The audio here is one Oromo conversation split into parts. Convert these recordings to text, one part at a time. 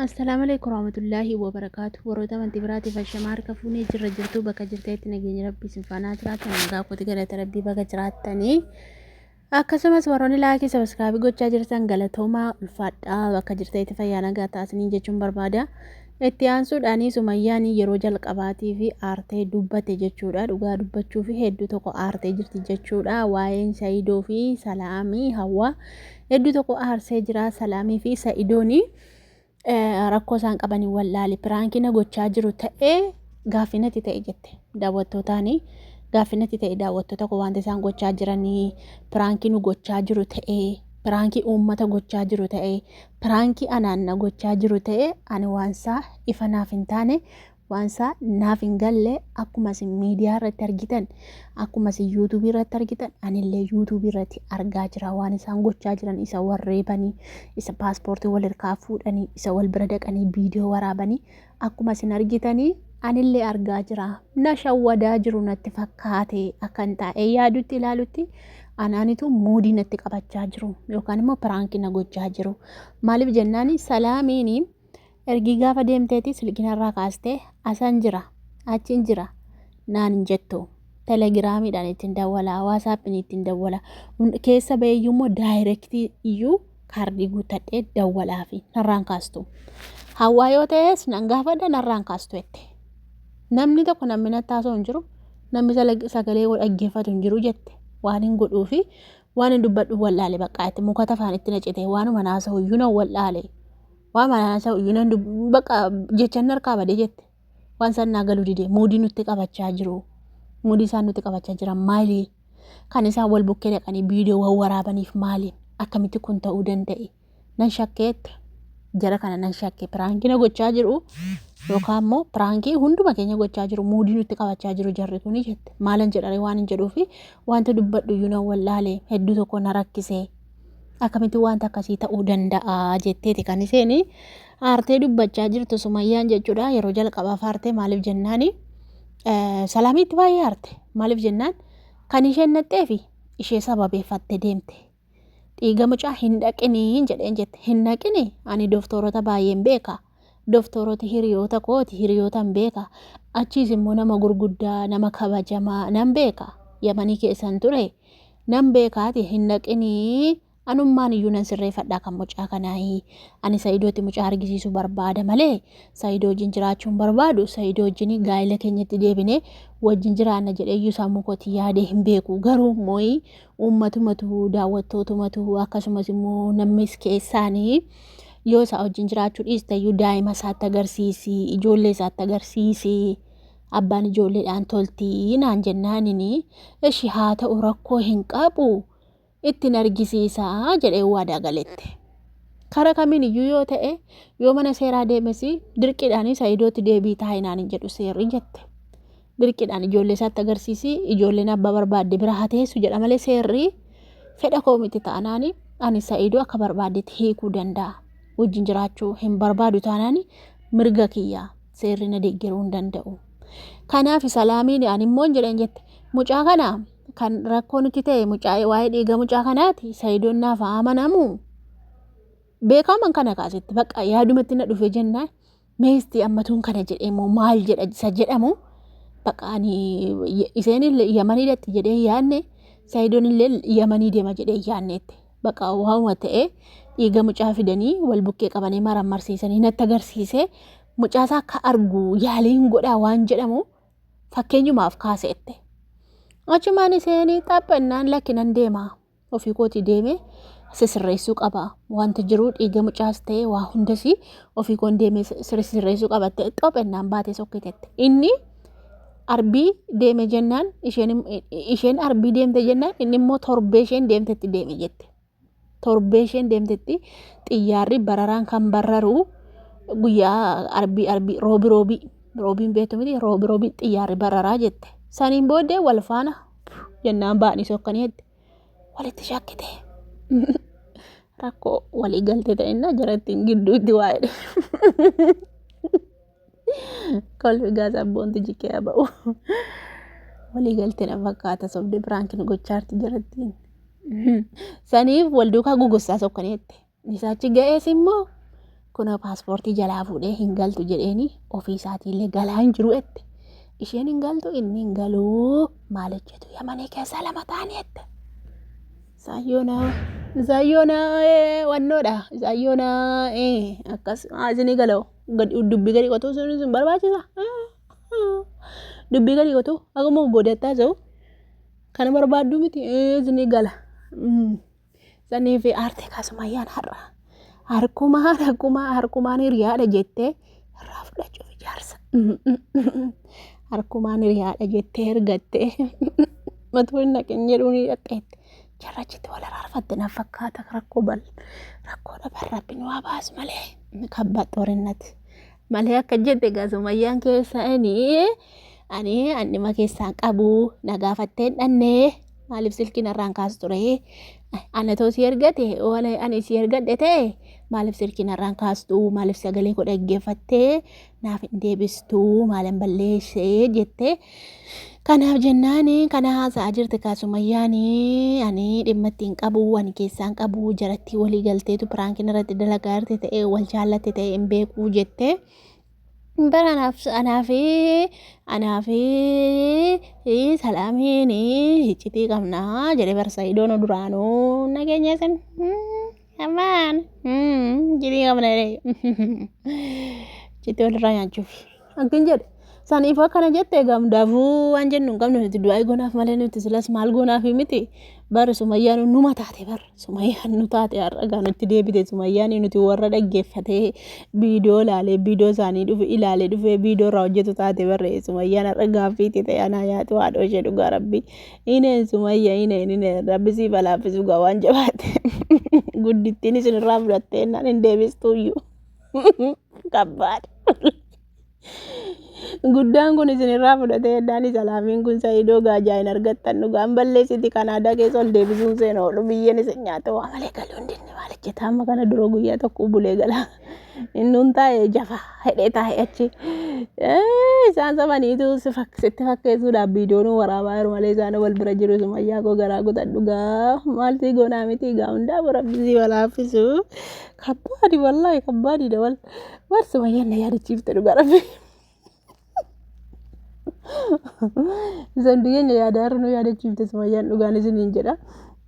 Assalaamu alaikum warahmatullaahi wabarakaatu warroota amantii biraatiif hashamaa harka fuunee jirra jirtuu bakka jirteetti nageenya rabbii isin faanaa jiraatan nagaa kooti galata rabbii bakka jiraattanii akkasumas warroonni laakii sabaskaabii gochaa jirtan galatoomaa ulfaadhaa bakka jirteetti fayyaa nagaa taasisanii jechuun barbaada itti aansuudhaanii sumayyaanii yeroo jalqabaatii fi aartee dubbate jechuudha dhugaa dubbachuu fi hedduu tokko aartee jirti jechuudha waa'een sayidoo fi salaamii hawaa Hedduu tokko aarsee jira Salaamii fi Sa'idooni rakkoo isaan qabanii wallaale piraankiina gochaa jiru ta'ee gaaffinatti ta'e jette daawwattootaani gaaffinatti ta'e daawwattoota koo wanti isaan gochaa jiranii piraankiinu gochaa jiru ta'ee piraankii uummata gochaa jiru ta'ee piraankii anaanna gochaa jiru ta'ee ani waansaa ifa naaf hin taane Waansaa naaf hin galle akkuma isin miidiyaa irratti argitan akkuma isin yuutuubii irratti argitan anillee yuutuubii irratti argaa jira waan isaan gochaa jiran isa wal reebanii isa paaspoortii wal irkaa fuudhanii isa wal bira dhaqanii viidiyoo waraabanii akkuma isin argitanii anillee argaa jira na shawwadaa jiru natti fakkaate akkan taa'ee yaadutti ilaalutti anaanitu muudii natti qabachaa jiru yookaan immoo piraankii na gochaa jiru maaliif jennaani salaamiini Ergii gaafa deemteeti silki narraa kaastee asan jira achin jira naan hin jettu telegiraamiidhaan ittiin dawwala waasaappiin ittiin dawwala Hun- keessa baheeyyuu immoo daayirektii iyyuu kaardii guuttadhee dawwalaa fi narraan kaastu hawaa yoo ta'es nan gaafadha narraan kaastu jette namni tokko namni natti haasoo hin jiru namni sala- sagalee koo dhaggeeffatu hin jiru jette waan hin godhuu fi waan hin dubbadhu wal'aale baqqaa itti mukata afaan itti nacite waanuma naasa'u iyyuu nan wal'aale Waa mana haasa'u iyyuu nan dubbu bakka jechan harkaa badee jette. Waan isaan naa galuu dide muudii nutti qabachaa jiru. Muudii isaan nutti qabachaa jiran maali? Kan isaan wal bukkee dhaqanii viidiyoo wal waraabaniif maali? Akkamitti kun ta'uu danda'e? Nan shakkeette. Jara kana nan shakke piraankii na gochaa jiru yookaan immoo piraankii hunduma keenya gochaa jiru muudii nutti qabachaa jiru jarri kuni jette. Maalan jedhare waan hin jedhuufi wanta dubbadhu iyyuu nan wallaale hedduu tokko na rakkisee. Akkamitti wanta akkasii ta'uu danda'a jetteeti kan isheen aartee dubbachaa jirtu sumayyaan jechuudha. Yeroo jalqabaaf aartee maaliif jennaan salaamiitti baay'ee aarte maaliif jennaan kan isheen naqxeefi ishee sababeeffatte deemte. Dhiiga mucaa hin dhaqinii jedheen jette hin dhaqini ani doktoorota baay'een beeka. Doktooroti hiriyoota kooti hiriyootan beeka. Achiis immoo nama gurguddaa nama kabajamaa nan beeka. Yamanii keessan ture. Nan beeka ati hin dhaqini anummaan iyyuu nan sirreeffadhaa kan mucaa kanaayi ani sa'idooti mucaa argisiisu barbaada malee sa'idoo wajjin jiraachuun barbaadu sa'idoo wajjin gaa'ila keenyatti deebine wajjin jiraanna jedhee iyyuu sammuu kootii yaadee hin beeku garuu immoo uummatumatu daawwattootumatu akkasumas immoo namnis keessaanii yoo isaa wajjin jiraachuu dhiiste iyyuu daa'ima isaatti agarsiisi ijoollee isaatti agarsiisi. abbaan ijoolleedhaan toltii naan jennaanini eshi haa ta'u rakkoo hin qabu ittiin argisiisaa jedhee waadaa galette. Kara kamiin iyyuu yoo ta'e yoo mana seeraa deemes dirqiidhaan sa'idootti deebii taa'inaan hin jedhu seerri jette. Dirqiidhaan ijoollee isaatti agarsiisi ijoolleen abbaa barbaadde bira haa teessu jedha malee seerri fedha koo miti taanaan ani sa'idoo akka barbaaddetti hiikuu danda'a. Wajjin jiraachuu hin barbaadu taanaan mirga kiyyaa. seerri na deeggaruu hin danda'u. Kanaaf salaamiin ani immoo hin jedhan jette. Mucaa kana kan rakkoo nutti ta'e mucaa waa'ee dhiiga mucaa kanaati sayidoon naaf haa amanamu. Beekaman kana kaasitti bakka yaadumatti na dhufe jennaan meesti ammatuun kana jedhee moo maal jedha isa jedhamu bakka ani isheen yamanii datti jedhee yaadne sayidoon illee yamanii deema jedhee yaadneetti. baqa waawuma ta'e dhiiga mucaa fidanii wal bukkee qabanii marammarsiisanii natti agarsiise mucaasaa akka argu yaaliin godhaa waan jedhamu fakkeenyumaaf kaaseette. Achumaan iseenii xaphannaan lakkinan deema ofii kooti deeme sisirreessuu qaba wanti jiru dhiiga mucaas ta'e waa hundasii ofii koon deeme sisirreessuu qabatte xophannaan baatee sokkitette inni. Arbii deeme jennaan isheen im- isheen arbii deemte jennaan inni immoo torbee isheen deemtetti deeme jette. Torbee isheen deemtetti xiyyaarri bararaan kan barraru guyyaa arbii arbii roobi roobii roobiin beektu miti roobi roobii xiyyaarri bararaa jette. Saniin booddee wal faana jennaan baanii sokkanii jette. Walitti shakkite. Rakkoo walii galtee ta'inna jarattiin gidduutti waa'ee. kolfi gaa sabboontu jikee haa ba'u walii galtee na fakkaata sobde biraanki nu gochaarti jirattiin saniif wal duukaa gugussaa sokkaneette isaachi ga'ees immoo kunoo paaspoortii jalaa fuudhee hin galtu jedheeni ofii isaatiillee galaa hin jiru jette isheen hin galtu inni hin galuu maal hojjetu yamanii keessaa lama ta'anii jette saayyoonaa saayyoonaa wannoodha saayyoonaa akkas isinii galoo. dubbii gadi qotuu sun sun barbaachisa dubbii gadi qotuu akkuma boodattaa ta'u kana barbaaddu miti ni gala sanii fi aartee kaasumayyaan har'a harkumaa harkumaa harkumaan hiriyaadha jettee irraa fudhachuuf ijaarsa harkumaan hiriyaadha jettee ergattee matuu hin naqin jedhuun hidhaxeette. Jarrachitti wal araarfatte na fakkaata rakkoo bal rakkoo dhaban rabbi nu haa baasu malee kabba xorinnati malee akka jette gaasumayyaan keessa ani ani annima keessaan qabu na gaafattee hin dhanne maaliif silkiin irraan kaasu ture ana too si ergate waan ani si ergadhe ta'e maaliif silkiin irraan kaastu maaliif sagalee koo dhaggeeffattee naaf hin deebistuu maalan balleessee jettee kanaaf jennaan kana haasa'aa jirti kaasumayyaan ani dhimma ittiin qabu ani keessaan qabu jarattii walii galteetu piraankiin irratti dalagaa irratti ta'e wal jaallatte ta'e hin beekuu jettee bara anaaf anaaf anaaf salaamiin hiccitii qabnaa jedhe barsa idoon duraanuu nageenya isin. Come on. Mm, jedhee qabna jedhee. Jettee walirraa nyaachuuf. Akkan jedhe. Saniif akkana jette gamdaafuu waan jennu hin qabnu nuti du'aa goonaaf malee nuti silas maal goonaaf miti. Bara sumayyaan numa taate bara sumayyaan nu taate har'a gaa nutti deebite sumayyaan nuti warra dhaggeeffatee viidiyoo ilaalee viidiyoo isaanii dhufe ilaalee dhufee viidiyoo irraa hojjetu taate barre sumayyaan har'a gaaffiitti ta'e anaa nyaatu haadhoo ishee dhugaa rabbi Ineen sumayya ineen ineen rabbi siif alaaffisuu gaa waan jabaatte guddittiin isin irraa fudhattee innaan hin deebistuuyyu kabbaad guddaan kun isin irraa fudhatee innaan isa laamiin kun sa'idoo gaajaa hin argattan dhugaan balleessiti kan aadaa keessa ol deebisuun seena oolu biyyeen isin nyaate waa malee galuun dinni maal hojjeta amma kana dura guyyaa tokko bulee galaa Innuun taa'ee jafa hidhee taa'ee achi. Eh, Isaan samaniitu si fak- sitti fakkeessuudhaaf viidiyoo nu waraabaa jiru malee isaan wal bira jiru sumayyaa koo garaa kutadhu gaa maaltii goonaa miti gaa hundaa rabbii wal haaffisu. Kabbaadi wallaahi kabbaadiidha wal. War sumayyaan na yaadachiifte dhugaa rabbii. Isan keenya yaada har'a nu yaadachiifte sumayyaan dhugaan isiniin jedha.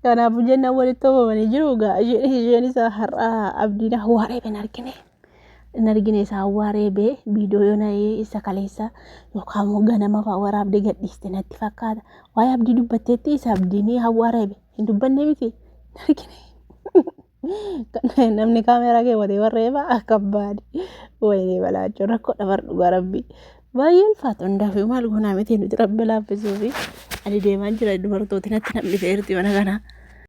Kanaafuu jennaan walitti qabamanii jiru egaa isheen isheen isa har'a abdiin awwaaree hin argine. Hin argine isa awwaaree bee viidiyoo yoo na'ee isa kaleessa yookaan immoo ganama fa'aa waraabdee gadhiiste natti fakkaata. Waa'ee abdii dubbatteetti isa abdiin awwaaree bee hin dubbanne miti hin argine. namni kaameeraa kee watee warree baa akka baadi wayinee balaachuu rakkoo dhabar dhugaa rabbii baay'ee ulfaata hundaaf maal goonaa miti nuti rabbi laaffisuu fi ani deemaan jira dubartooti natti namni feerti mana kanaa.